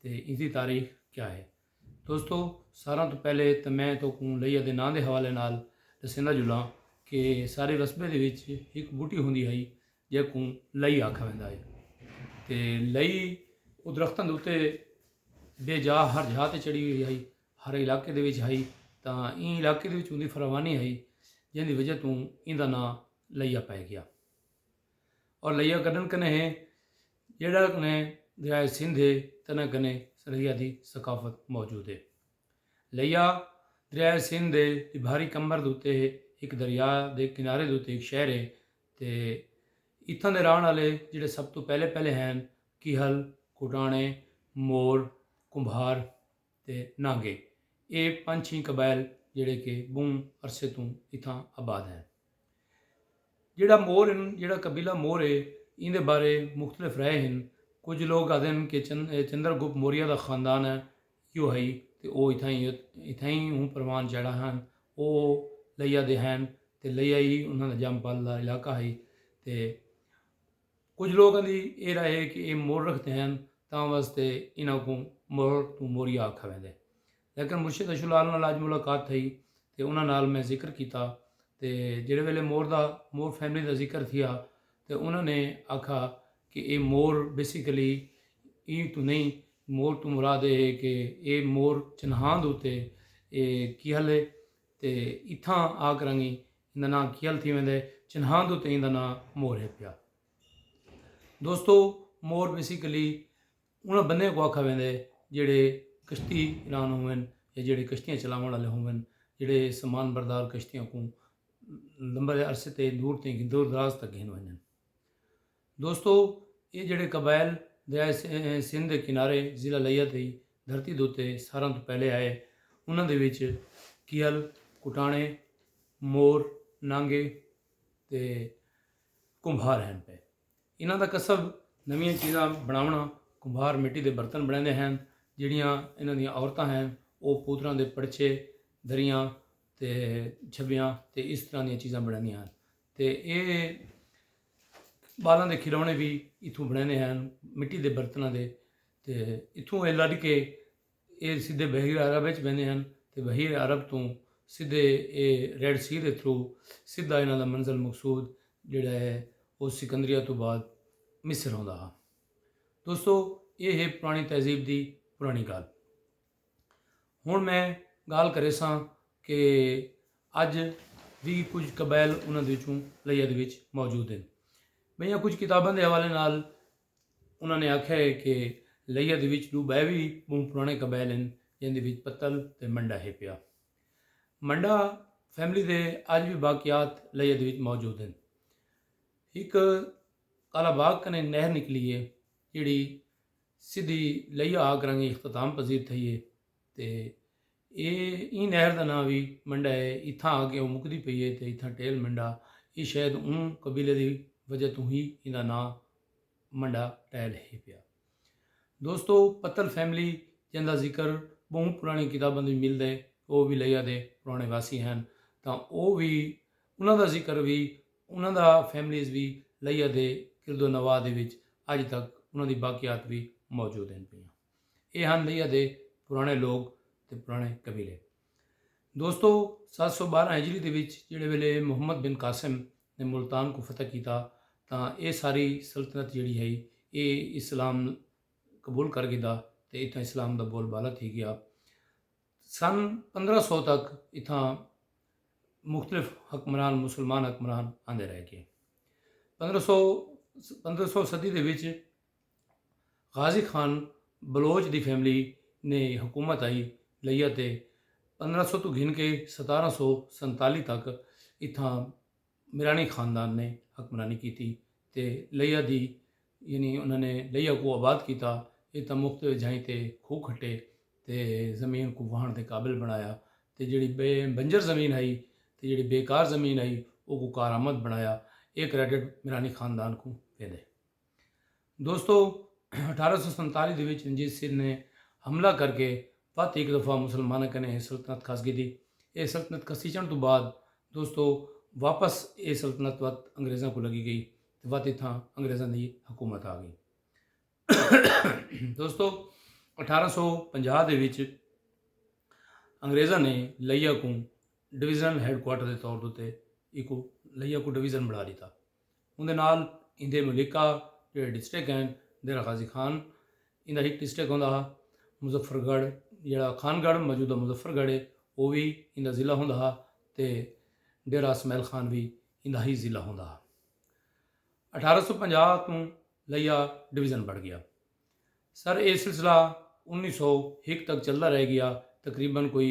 تے ایندی تاریخ کیا ہے۔ دوستو ساراں توں پہلے تاں میں توکوں لئیا دے ناں دے حوالے نال ڈسیندا جلاں کہ سارے رسبے دے وچ ہک بوٹی ہوندی ہئی جیکوں لئی آکھا ویندا ہئی تے لئی او درختاں دے اتے بے جا ہر جھا تے چڑھی ہوئی ہئی ہر علاقے دے وچ ہئی تاں ایں علاقے دے وچ اوندی فراوانی ہئی جیندی وجہ توں ایندا ناں لئیا پئے گیا۔ اور لئیا کڈن کنے ہے جیڑا کنے دریا سندھ ہے تنا کنے سریا دی ثقافت موجود ہے لئیا دریا سندھ دے بھاری کمبر دوتے ہے ایک دریا دے کنارے دوتے ایک شہر ہے تے اتھاں دے رہن والے جڑے سب تو پہلے پہلے ہیں کیہل کوٹانے مور کمبھار تے نانگے اے پنج چھی قبائل جیڑھے کہ بہوں عرصے توں اتھاں آباد ہن۔ جیڑھا مور ہن جیڑھا قبیلہ مور ہے ایندے بارے مختلف رائے ہن کجھ لوگ آدھن کہ چندر گپ موریہ دا خاندان ہے یو ہئی تے او اتھائیں ہوں پروان چڑھا ہن او لیا دے ہن تے لیا ہی انہاں دا جام پل دا علاقہ ہئی تے کجھ لوکاں دی اے رائے ہے کہ اے مول رکھدے ہن تاں واسطے انہاں کوں مور توں موریا آکھا ویندے۔ لیکن مرشد اشو لال نال اج ملاقات تھئی تے انہاں نال میں ذکر کیتا تے جیڑھے ویلے مور دا مور فیملی دا ذکر تھیا تے انہاں نے آکھا کہ اے مور بیسیکلی ایں توں نئیں مور توں مراد اے ہے کہ اے مور چنہاند اتے اے کیہل ہے تے اتھاں آ کراں گی ایندا ناں کیل تھی ویندے چنہاند اتے ایندا ناں مور ہے پیا۔ دوستو مور بیسیکلی انہاں بندیاں کو آکھا ویندے جیڑھے کشتی ران ہوون یا جیڑھے کشتیاں چلاون والے ہوون جیڑھے سامان بردار کشتیاں کو لمبے عرصے تے دور تے دور دراز تک گھن ونجن۔ دوستو ایہ جیڑھے قبائل دریائے سندھ دے کنارے ضلع لیہ دی دھرتی دے اتے ساراں توں پہلے آئے انہاں دے وچ کیہل، کٹاݨے، مور، نانگے تے کمبھار ہن پئے۔ انہاں دا کسب نویاں چیزاں بݨاوݨا، کمبھار مٹی دے برتن بݨیندے ہن جیڑھیاں انہاں دیاں عورتاں ہن او پوتراں دے پڑچھے، دریاں تے جھبیاں تے اس طرح دیاں چیزاں بݨیندیاں ہن۔ تے ایہ ٻالاں دے کھلونے وی اتھوں بݨیندے ہن مٹی دے برتناں دے تے اتھوں ایہ لݙ کے ایہ سدھے بحیرہ عرب وچ ویندے ہن تے بحیرہ عرب توں سدھے ایہ ریڈ سی دے تھرو سدھا انہاں دا منزل مقصود جیڑھا ہے او سکندریہ توں بعد مصر ہوندا ہا دوستو ایہ ہے پرانی تہذیب دی پرانی ڳالھ ہن میں گالھ کریساں کہ اج وی کجھ قبائل انہاں دے وچوں لئیہ دے وچ موجود ہیں بئیاں کجھ کتاباں دے حوالے نال انہاں نے آکھیا ہے کہ لئیہ دے وچ دو بے وی بہوں پرانے قبائل ہیں جن دے وچ پتل تے منڈا ہے پیا منڈا فیملی دے اج وی باقیات لئیہ دے وچ موجود ہیں ایک کالا باغ کنے نہر نکلی ہے جیڑی سدھی لئیا آ کرنگی اختتام پذیر تھئی ہے تے اے ایں نہر دا ناں وی منڈا ہے اتھاں آ کے او مکدی پئی ہے تے اتھاں ٹیل منڈا اے شاید اوں قبیلے دی وجہ توں ہی ایندا ناں منڈا ٹیل ہے پیا دوستو پتل فیملی جیندا ذکر بہوں پرانی کتاباں دی ملدا ہے او وی لئیا دے پرانے واسی ہن تاں او وی انہاں دا ذکر وی انہاں دا فیملیز وی لئیا دے کرد و نواح دے وچ اڄ تک انہاں دی باقیات وی موجود ہن پیاں۔ اے ہن لئیا دے پراݨے لوک تے پراݨے قبیلے۔ دوستو ست سو ٻارہاں ہجری دے وچ جیڑھے ویلے محمد بن قاسم نے ملتان کوں فتح کیتا تاں اے ساری سلطنت جیڑھی ہئی اے اسلام قبول کر گھدا تے اتھاں اسلام دا بول بالا تھی ڳیا۔ سن پندرہ سو تک اتھاں مختلف حکمران مسلمان حکمران آندے رہ گئے پندرہ سو پندرہ سو صدی دے وچ غازی خان بلوچ دی فیملی نے حکومت آئی لیا تے پندرہ سو تو گھن کے ستارہ سو سنتالی تک اتھاں میرانی خاندان نے حکمرانی کیتی تے لیا دی یعنی انہاں نے لیا کوں آباد کیتا اے تاں مختلف جھائیں تے کھوہ کھٹے تے زمین کوں واہݨ دے قابل بݨایا تے جیڑھی بے بنجر زمین ہئی تے جیڑھی بے کار زمین ہئی او کوں کارآمد بݨایا اے کریڈٹ میرانی خاندان کوں ویندے۔ دوستو اٹھارہ سو سنتالی دے وچ رنجیت سنگھ نے حملہ کر کے وت ہک دفعہ مسلماناں کنے اے سلطنت کھس گھدی اے سلطنت کھسیچن توں بعد دوستو واپس اے سلطنت وت انگریزاں کو لگی گئی تے وت اتھاں انگریزاں دی حکومت آ گئی دوستو اٹھارہ سو پنجاہ دے وچ انگریزاں نے لیا کو ڈویژنل ہیڈ کوارٹر دے طور تے ایکو لیا کو ڈویژن بنا لیتا اوندے نال ایندے ملکہ جیڑھے ڈسٹرکٹ ہن، دیر غازی خان ایندا ہک ڈسٹرکٹ ہوندا ہا، مظفر گڑھ جیڑھا خان گڑھ موجودہ مظفر گڑھ ہے او وی ایندا ضلع ہوندا ہا تے ڈیرہ اسمعیل خان وی ایندا ہی ضلع ہوندا ہا۔ اٹھارہ سو پنجاہ توں لئیا ڈویژن بڑھ گیا سر اے سلسلہ انیس سو ہک تک چلدا رہ گیا تقریبا کوئی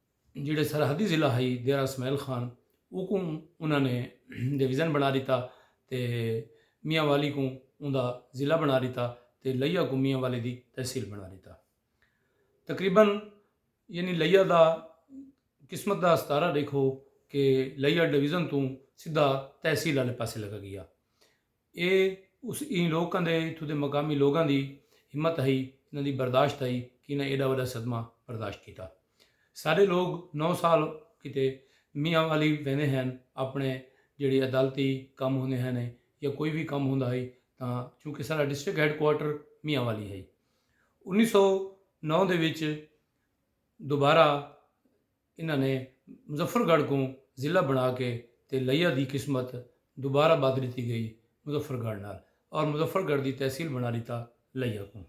جیڑھے سرحدی ضلع ہئی دیرہ اسماعیل خان اوکوں انہاں نے ڈویژن بنا ڈتا تے میاں والی کوں اوندا ضلع بنا ڈتا تے لیہ کوں میاں والی دی تحصیل بنا ڈتا۔ تقریبا یعنی لیہ دا قسمت دا ستارہ ڈیکھو کہ لیہ ڈویژن توں سدھا تحصیل آلے پاسے لگا گیا۔ اے اس ایں لوکاں دے اتھوں دے مقامی لوگاں دی ہمت ہئی انہاں دی برداشت ہئی کہ انہاں ایڈا وڈا صدمہ برداشت کیتا۔ ساڈے لوگ نو سال کیتے میاں والی ویندے ہن اپنے جیڑھی عدالتی کم ہوندے ہن یا کوئی وی کم ہوندا ہئی تاں چونکہ ساڈا district headquarter Mianwali ہئی۔ انیس سو نو دے وچ دوبارہ انہاں نے مظفر گڑھ کوں ضلع بنا کے تے لیا دی قسمت دوبارہ بدھ ڈتی گئی مظفر گڑھ نال اور مظفر گڑھ دی تحصیل بنا ڈتا لیا کوں۔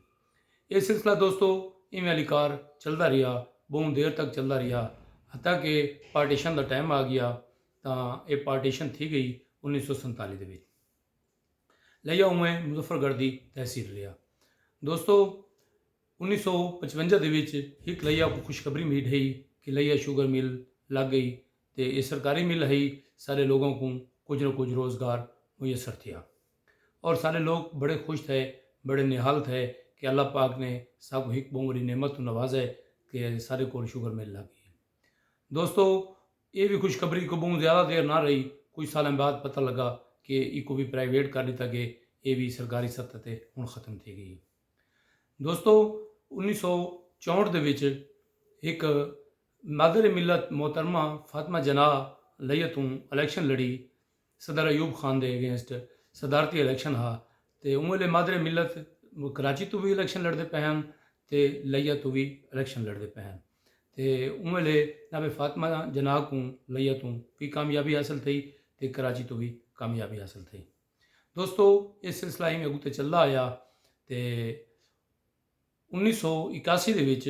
اے سلسلہ دوستو ایویں علی کار چلدا رہیا بہوں دیر تک چلدا رہیا حتی کہ پارٹیشن دا ٹائم آ گیا تاں اے پارٹیشن تھی گئی انیس سو سنتالی دے وچ لیا اوویں مظفر گڑھ دی تحصیل رہیا دوستو۔ انیس سو پچونجا دے وچ ہک لئیا کوں خوشخبری مھی ڈھئی کہ لئیا شوگر مل لگ گئی تے ایہ سرکاری مل ہئی سارے لوگاں کوں کجھ نہ کجھ روزگار میسر تھیا اور سارے لوگ بڑے خوش تھئے بڑے نہال تھئے کہ اللہ پاک نے ساکوں ہک بہوں وڈی نعمت توں نوازئے کہ سارے کول شوگر مل لگ گئی ہے دوستو ایہ وی خوشخبری کوئی بہوں زیادہ دیر نہ رہی کجھ سالاں بعد پتہ لگا کہ ایکوں وی پرائیویٹ کر ڈتا گئے ایہ وی سرکاری سطح تے ہن ختم تھی گئی ہے۔ دوستو انیس سو چونہٹھ دے وچ ہک مادر ملت محترمہ فاطمہ جناح لئیہ توں الیکشن لڑی صدر ایوب خان دے اگینسٹ صدارتی الیکشن ہا تے اوں ویلے مادر ملت کراچی توں وی الیکشن لڑدے پئے ہن تے لئیہ توں وی الیکشن لڑدے پئے ہن تے اوں ویلے جناب فاطمہ جناح کوں لئیہ توں وی کامیابی حاصل تھئی تے کراچی توں وی کامیابی حاصل تھئی دوستو یہ سلسلہ ایویں اگوں تے چلدا آیا تے انیس سو اکاسی دے وچ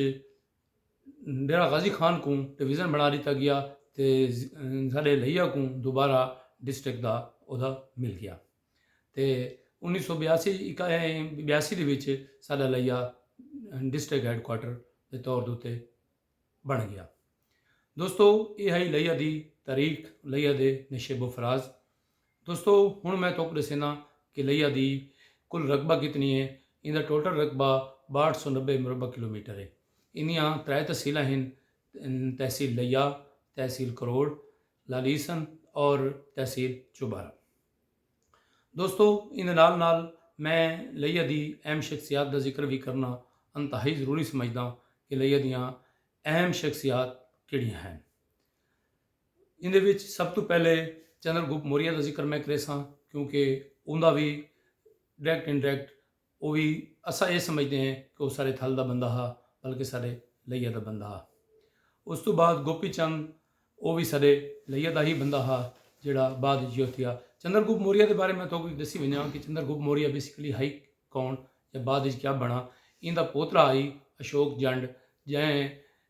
ڈیرہ غازی خان کو ڈویژن بنا دیتا گیا تے ساڈے لہیا کو دوبارہ ڈسٹرکٹ دا عہدہ مل گیا تے انیس سو بیاسی بیاسی دے وچ ساڈا لہیا ڈسٹرکٹ ہیڈ کوارٹر دے طور دوتے بن گیا دوستو یہ ہے لہیا دی تاریخ لہیا دے نشیب و فراز دوستو ہن میں توکوں ڈسینا کہ لیا دی کل رقبہ کتنی ہے ایندا ٹوٹل رقبہ باہٹھ سو نبے مربع کلومیٹر ہے ایندیاں ترائے تحصیلاں ہن تحصیل لیا تحصیل کروڑ لالیسن اور تحصیل چوبارہ دوستو ایندے نال نال میں لیا دی اہم شخصیات دا ذکر بھی کرنا انتہائی ضروری سمجھدا کہ لیا دیاں اہم شخصیات کیڑیاں ہیں ایندے وچ سب توں پہلے چندر گپت موریہ دا ذکر میں کریساں کیونکہ اوندا وی ڈائریکٹ انڈائریکٹ او وی اساں اے سمجھدے ہیں کہ او ساڈے تھل دا بندہ ہا بلکہ ساڈے لئیہ دا بندہ ہا۔ اس توں بعد گوپی چند او وی ساڈے لئیہ دا ہی بندہ ہا جیڑھا بعد وچ یو تھیا۔ چندر گپت موریہ دے بارے میں تہاکوں اک ڈسی ونجاں کہ چندر گپت موریہ بیسیکلی ہئی کون یا بعد وچ کیا بنڑا۔ ایندا پوترا ہئی اشوک جنڈ جئیں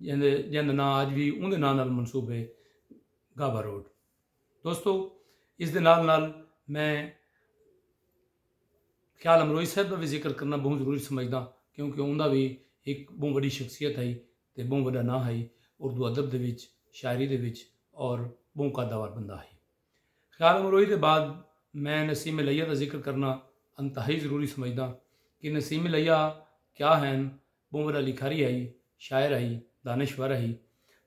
جیندے جیند دا ناں اج وی اوندے ناں نال منسوب ہے گابھا روڈ دوستو اس دے نال نال میں خیال امروئی صاحب دا وی ذکر کرنا بہوں ضروری سمجھداں کیونکہ اوندا وی ایک بہوں وڈی شخصیت ہئی تے بہوں وڈا ناں ہئی اردو ادب دے وچ شاعری دے وچ اور بہوں قداوار بندہ ہئی خیال امروئی دے بعد میں نسیم الیہ دا ذکر کرنا انتہائی ضروری سمجھداں کہ نسیم الیہ کیا ہین بھنور لکھاری ہئی، شاعر ہئی، دانشور ہئی۔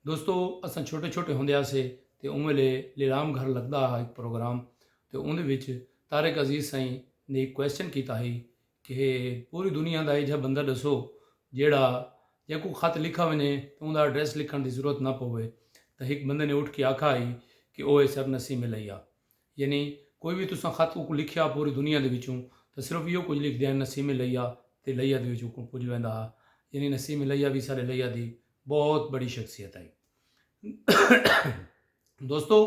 دوستو اساں چھوٹے چھوٹے ہوندے ہاسے تے اوں ویلے لیلام گھر لگدا ہا ہک پروگرام تے اوندے وچ طارق عزیز سئیں نے ہک کوسچن کیتا ہئی کہ پوری دنیا دا ایجھا بندہ ڈسو جیڑھا جیکوں خط لکھا ونجے تے اوندا ایڈریس لکھن دی ضرورت نہ پووے تاں ہک بندے نے اٹھ کے آکھا ہئی کہ او ہے سر نسیم الیہ۔ یعنی کوئی وی تساں خط اوکوں لکھیا پوری دنیا دے وچوں تاں صرف ایہو کجھ لکھ دیاں نسیم الیہ تے الیہ دے وچ اوکوں پج ویندا ہا یعنی نسیم الیہ وی ساڈے الیہ دی بہت بڑی شخصیت ہئی۔ دوستو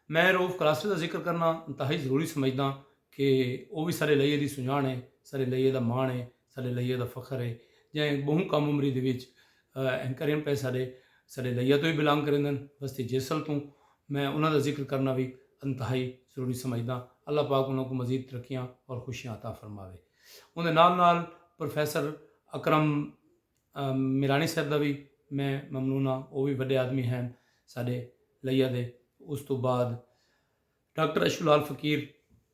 میں روف کلاسٹر دا ذکر کرنا انتہائی ضروری سمجھداں کہ او وی ساڈے الیہ دی سنجان ہے ساڈے الیہ دا مان ہے ساڈے الیہ دا فخر ہے جئیں بہوں کم عمری دے وچ ایں کریم پئے ساڈے ساڈے لئیا توں وی بلانگ کریندن وستی جیسل توں میں انہاں دا ذکر کرنا وی انتہائی ضروری سمجھداں اللہ پاک انہاں کوں مزید ترقیاں اور خوشیاں عطا فرماوے اوندے نال نال پروفیسر اکرم میرانی صاحب دا وی میں ممنون ہاں او وی وڈے آدمی ہین ساڈے لئیا دے اس توں بعد ڈاکٹر اشو لال فقیر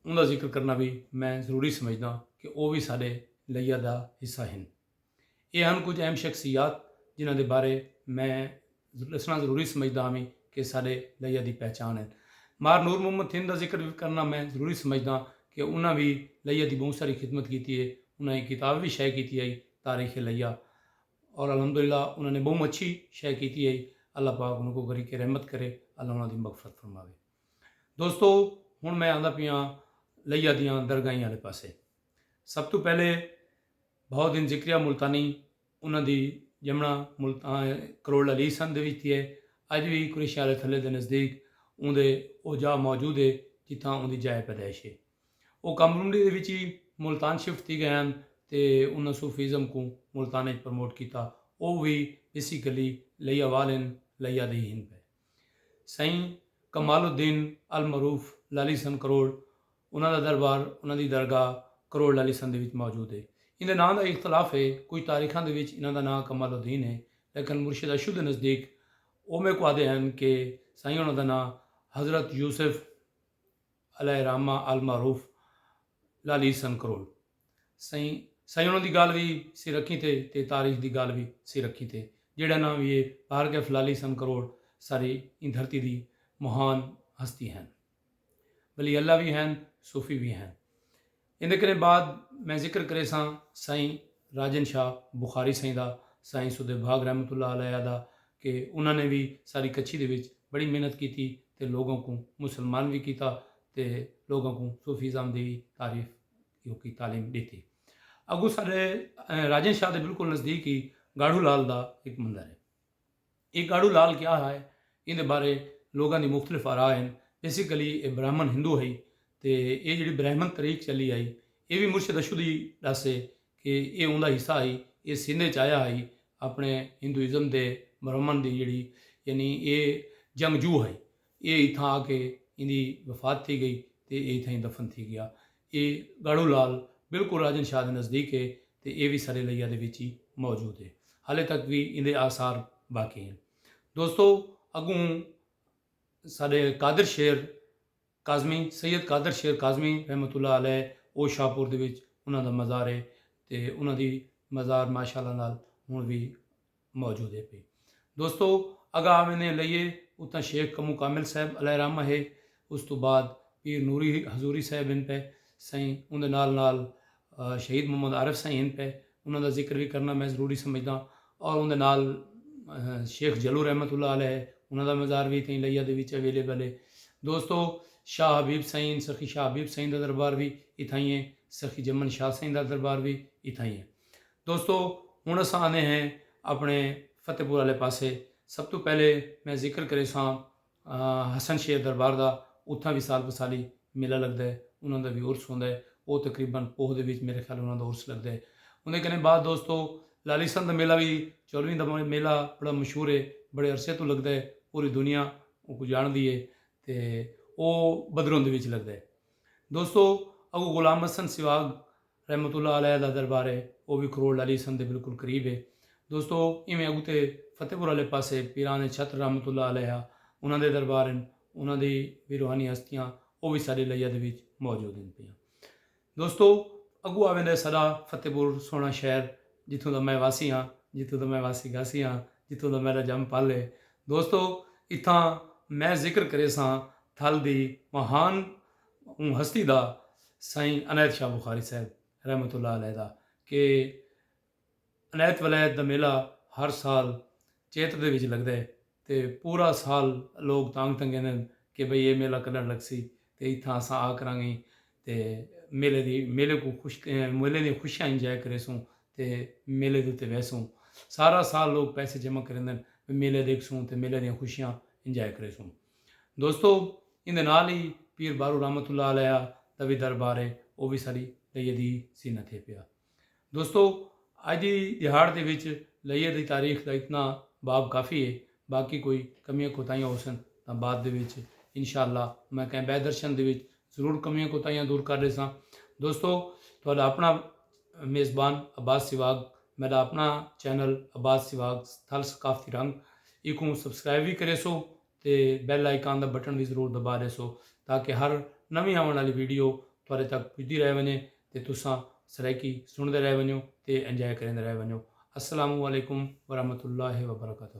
اوندا ذکر کرنا وی میں ضروری سمجھداں کہ او وی ساڈے لئیا دا حصہ ہن۔ ایہ ہن کجھ اہم شخصیات جنہاں دے بارے میں ڈسنڑاں ضروری سمجھدا ہاویں کہ ساڈے لئیا دی پہچان ہن۔ مار نور محمد تھن دا ذکر وی کرنڑاں میں ضروری سمجھداں کہ انہاں وی لئیا دی بہوں ساری خدمت کیتی ہے۔ انہاں ہک کتاب وی شائع کیتی ہئی تاریخ لئیا اور الحمدللہ انہاں نے بہوں اچھی شے کیتی ہئی۔ اللہ پاک انہاں کوں غریق رحمت کرے۔ اللہ انہاں دی مغفرت فرماوے۔ دوستو ہن میں آندا پیاں لئیا دیاں درگاہیں آلے پاسے۔ سب توں پہلے بھاؤ دین ذکریہ ملتانی انہاں دی ڄمݨا ملتان کروڑ علی سندھ دے وچ تھی ہے۔ اڄ وی قریشیاں آلے تھلے دے نزدیک اوندے او جاہ موجود ہے جتھاں اوندی جائے پیدائش ہے۔ او کم رونڈے دے وچ ہی ملتان شفٹ تھی ڳئے ہن تے انہاں صوفی ازم کوں ملتان اچ پروموٹ کیتا۔ او وی بیسیکلی لیا وال ہن، لیا دے ہی ہن پئے۔ سئیں کمال الدین المعروف لالی سن کروڑ انہاں دا دربار انہاں دی درگاہ کروڑ لالی سن دے وچ موجود ہے۔ ایندے ناں دا اختلاف ہے کجھ تاریخاں دے وچ انہاں دا ناں کمال الدین ہے لیکن مرشد اشو دے نزدیک او میکوں آہدے ہن کہ سائیں ہونا دا ناں حضرت یوسف علیہ الرحمہ المعروف لالی سن کروڑ۔ سئیں سئیں انہاں دی گالھ وی سر اکھیں تے تے تاریخ دی گالھ وی سر اکھیں تے جیڑھا ناں وی اے بہر کیف لالی سن کروڑ ساری ایں دھرتی دی مہان ہستی ہن ولی اللہ وی ہن صوفی وی ہن ایندے کنیں بعد میں ذکر کریساں سائیں راجن شاہ بخاری سائیں دا سائیں سودھے بھاگ رحمت اللہ علیہ دا کہ انہاں نے وی ساری کچھی دے وچ بڑی محنت کیتی تے لوگاں کوں مسلمان وی کیتا تے لوگاں کوں صوفیزم دی وی تعریف کیونکہ تعلیم ڈیتی اگو سارے راجن شاہ دے بالکل نزدیک ہی گاڑھو لال دا ایک مندر ہے یہ گاڑھو لال کیا ہے ان دے بارے لوگاں دی مختلف آرا ہیں بیسیکلی اے برہمن ہندو ہئی تے اے جڑی برہمن تریک چلی آئی اے وی مرشد اشود ہی ڈسے کہ اے اوندا حصہ ہئی اے سندھ اچ آیا ہئی اپنے ہندوازم دے برہمن دی جڑی یعنی اے جنگجو ہئی ایہ اتھاں آ کے ایندی وفات تھی گئی تے ایہ اتھاں ای دفن تھی گیا۔ ایہ گاڑھو لال بالکل راجن شاہ دے نزدیک ہے تے ایہ وی سر لیا دے وچ ای موجود ہے۔ ہالے تک وی ایندے آثار باقی ہن۔ دوستو اگوں ساڈے قادر شیر کاظمی سید قادر شیر کاظمی رحمت اللہ علیہ او شاہپور دے وچ انہاں دا مزار ہے تے انہاں دی مزار ماشاءاللہ نال ہن وی موجود ہے پی دوستو اگا آویندے لئیے اتاں شیخ کمو کامل صاحب علیہ رحمہ ہے اس تو بعد پیر نوری حضوری صاحب ہن پے سائیں اوندے نال نال شہید محمد عارف سائیں ہن پے انہاں دا ذکر وی کرنا میں ضروری سمجھداں اور اوندے نال شیخ جلو رحمت اللہ علیہ ہے انہاں دا مزار وی اتیں لئیہ دے وچ اویلیبل ہے دوستو شاہ حبیب سائیں سخی شاہ حبیب سائیں دا دربار وی اتھائیں ہے سخی جمن شاہ سائیں دا دربار وی اتھائیں ہے دوستو ہن اساں آنے ہیں اپنے فتح پور والے پاسے سب تو پہلے میں ذکر کرے ساں حسن شیر دربار دا اتھاں بھی سال بسالی میلہ لگدا ہے انہاں دا بھی عرس ہوندا ہے او تقریبا پوہ دے وچ میرے خیال انہاں دا عرس لگدا ہے اوندے کنے بعد دوستو لالی سن دا میلہ وی چولویں دا میلہ بڑا مشہور ہے بڑے عرصے توں لگدا ہے پوری دنیا اوکوں جاندی ہے تے او بدروں دے وچ لگدا ہے دوستو اگو غلام حسن سواگ رحمت اللہ علیہ دا دربار ہے او وی کھروڑ علی سن دے بالکل قریب ہے دوستو ایویں اگتے فتح پور آلے پاسے پیران چھتر رحمت اللہ علیہ انہاں دے دربار ہن انہاں دی وی روحانی ہستیاں او وی ساڈے لیا دے وچ موجود ہن پیاں دوستو اگو آویندے ہے ساڈا فتح پور سوہنا شہر جتھوں دا میں واسی ہاں جتھوں دا میں واسی گاسی ہاں جتھوں دا میڈا جم پل ہے دوستو اتھاں میں ذکر کریساں تھل دی مہان اوں ہستی دا سائیں عنایت شاہ بخاری صاحب رحمت اللہ علیہ دا کہ عنایت ولایت دا میلہ ہر سال چیت دے وچ لگدے تے پورا سال لوگ تانگھ تنگیندن کہ بھئی اے میلہ کݙݨ لڳسی تے اتھاں اساں آ کرانگیں تے میلے دی میلے کوں خوش میلے دیاں خوشیاں انجوائے کریسوں تے میلے دے اتے ویسوں سارا سال لوگ پیسے جمع کریندن میلہ ݙیکھسوں تے میلے دیاں خوشیاں انجوائے کریسوں۔ دوستو ایندے نال ہی پیر بارو رحمت اللہ علیہ دا وی دربار ہے او وی ساڈی لئیے دی سی نہ تھے پیا۔ دوستو اج دی دیہاڑ دے وچ لئیے دی تاریخ دا اتنا باب کافی ہے باقی کوئی کمیاں کوتاہیاں ہوسن تاں بعد دے وچ انشاءاللہ میں کہیں بئے درشن دے وچ ضرور کمیاں کوتاہیاں دور کر ڈیساں دوستو تہاڈا اپنا میزبان عباس سواگ میڈا اپنا چینل عباس سواگ تھل ثقافتی رنگ ایکوں سبسکرائب وی کریسو تے بیل آئیکان دا بٹن وی ضرور دبا ڈیسو تاکہ ہر نویں آون آلی ویڈیو تہاڈے تک پجدی رہ ونجے تے تساں سرائیکی سنڑدے رہ ونجو تے انجوائے کریندے رہ ونجو السلام علیکم ورحمۃ اللہ وبرکاتہ۔